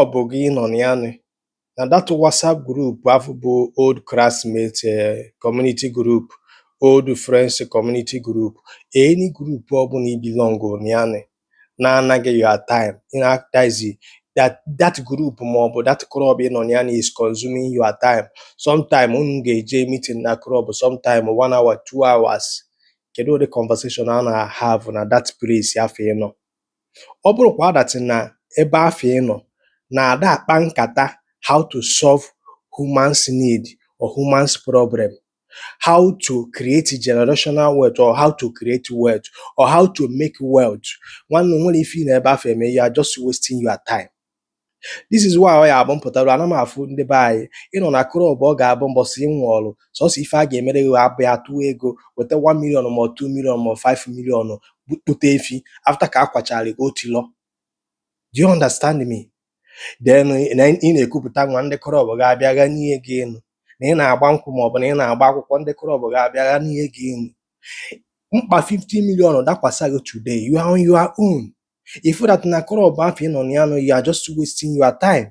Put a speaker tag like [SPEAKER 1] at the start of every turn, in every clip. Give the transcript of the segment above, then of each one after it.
[SPEAKER 1] ọ bụ gị nọ na ya nị na that WhatsApp group afụ bụ old classmate eh, community group old friends community group any group ọ bụna i belong na ya nị na-ana gị your time in that is that that group ma ọ bụ that club ị nọ na ya nị is consuming your time sometime unu ga-eje meeting na club sometime one hour two hours kedu ụdị conversation a na-have na that place afụ ị nọ ọ bụrụ kwa that na ebe afụ ị nọ na ada akpa nkata how to solve human's need or human's problem how to create generational wealth or how to create wealth or how to make wealth nwanne o nwero ife ị nọ ebe afụ eme you are just wasting your time This is why ọ ya abụ m pụtaru ana m afụ ndị be anyị ị nọ na club ọ ga-abụ mbọsị ị nwụọlụ sọsọ ife a ga-emere gị abụ ya tụọ ego weta 1 million ma 2 million ma 5 million kpụte efi after ka a kwachara gị otilọ do you understand me then ị na-ekupụta nwa ndị club ga-abịa ghanie gị enu na ị na-agba nkwụ ma ọ bụ na ị na-agba akwụkwọ ndị club ga-abịa ghanie gị enu mkpa 50 million dakwasa gị today you are on your own If that na club afụ ị nọ na ya nụ you are just wasting your time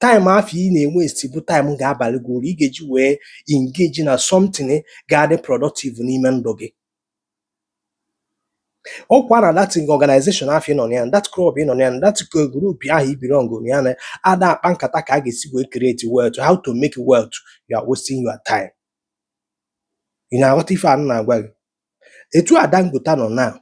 [SPEAKER 1] time afụ ị na-ewaste bụ time ga-abalị gị uru ị ga-eji wee engage na something ga-adị productive n'ime ndụ gị ọkwa na that organization afụ ị nọ na ya that club ị nọ na ya that group ahụ i belong na ya na ada akpa nkata ka a ga-esi wee create wealth how to make wealth you are wasting your time ị na-aghọta ife a m na-agwa gị etu a Dangote nọ now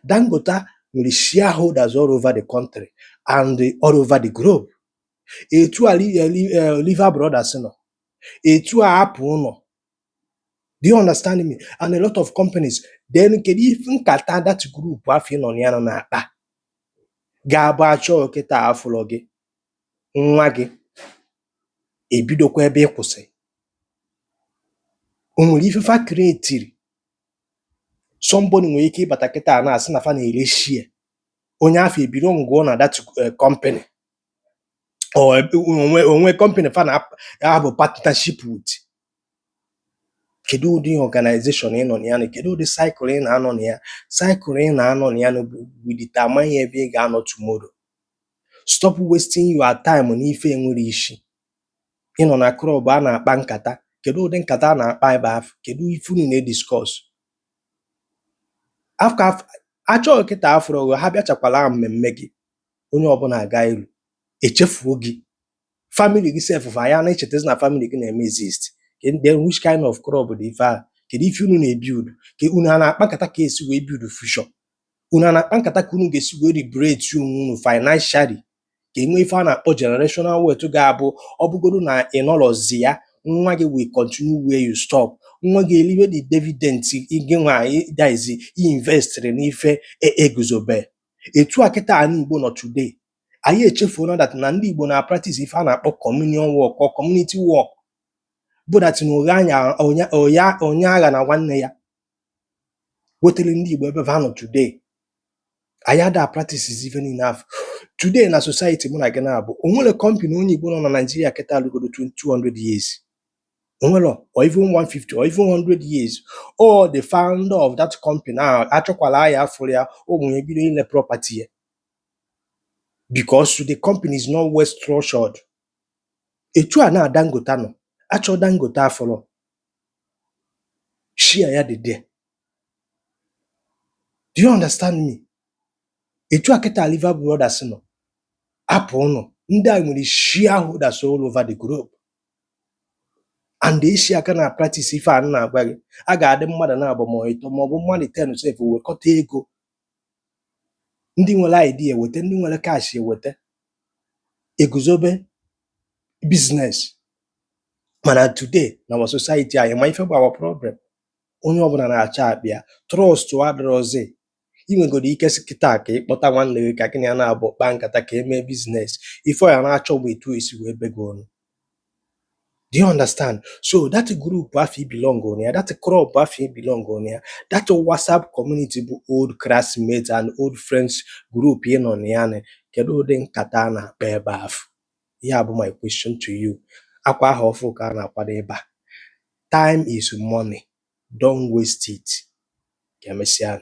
[SPEAKER 1] Dangote nwere shareholders all over the country and all over the globe etu a Lever Brothers nọ etu a Apple nọ do you understand me and a lot of companies then kedu ife nkata that group afụ ị nọ na ya nụ na-akpa ga-abụ achọkata afụlọ gị nwa gị ebidokwa ebe ị kwụsị o nwere ife fa creatiri somebody nwere ike ịbata kịta a na-asị na fa na-ere share onye afụ ebelonguo na that eh, company or eh, o nwee o nwee company fa na-abụ partnership with kedu ụdị organization ị nọ na ya nị kedu ụdị circle ị na-anọ na ya circle ị na-anọ na ya nị will determine ebe ị ga-anọ tomorrow stop wasting your time n'ife enwero isi ị nọ na club a na-akpa nkata kedu ụdị nkata a na-akpa ebe afụ kedu ife unu na-ediscuss after achọkata afụrọ gị ha bịachakwala mmemme gị onye ọbụla aga iru echefuo gị family gị sef fa aya na-echetezi na family gị na-eme exist then which kind of club dị ife ahụ kedu ife unu na-ebuild ka unu a na-akpa nkata ka esi wee build future unu a na-akpa nkata ka unu ga-esi wee liberate onwe unu financially ka enwe ife a na-akpọ generational wealth ga-abụ ọ bụgodu na ị nọrọzi ya nwa gị will continue where you stop nwa gị eliwe the dividend gị nwa daizi investịrị n'ife e guzobe etu a kịta anị Igbo nọ today anyị echefuona that na ndị Igbo na-practice ife a na-akpọ communion work or community work bụ that na onye aghana nwanne ya wetere ndị Igbo ebe va nọ today anyị ada practicezi ife ndị afụ today na society mụ na gị naabọ o nwere company onye Igbo nọ na Nigeria kịta alụgodo 200 years o nwerọ or even 150 or even 100 years or the founder of that company achọkwala ya afụrọ ya ụmụ ya ebido ile property ya because the company is not well structured etu a na Dangote nọ achọ Dangote afụrọ share ya dị there do you understand me etu a kịta Lever Brothers nọ Apple nọ ndị a nwere shareholders all over the globe and ndị Asia ka na-practice ife a na-agwa gị a ga-adị mmadụ naabọ ma ịtọ ma ọ bụ mmadụ ten sef wekọta ego ndị nwere idea eweta, ndị nwere cash eweta, eguzobe business. Mana today na our society anyị, ị ma ife bụ our problem? Onye ọbụla na-achọ akpa ya. Trust adịrọzi. I nwegodu ike sị kịta ka ị kpọta nwanne gị ka gị na ya naabọ kpaa nkata ka e mee business. Ife ọ ya na-achọ bụ etu o si wee be gị onu. Do you understand? So that group afụ i belong na ya, that club afụ i belong na ya, that WhatsApp community bụ old classmates and old friends group ị nọ na ya nị, kedu ụdị nkata a na-akpa ebe afụ? Ya bụ my question to you. Akwa ahọ ọfụụ ka a na-akwado ịba. Time is money. Don't waste it. Ka emesịa.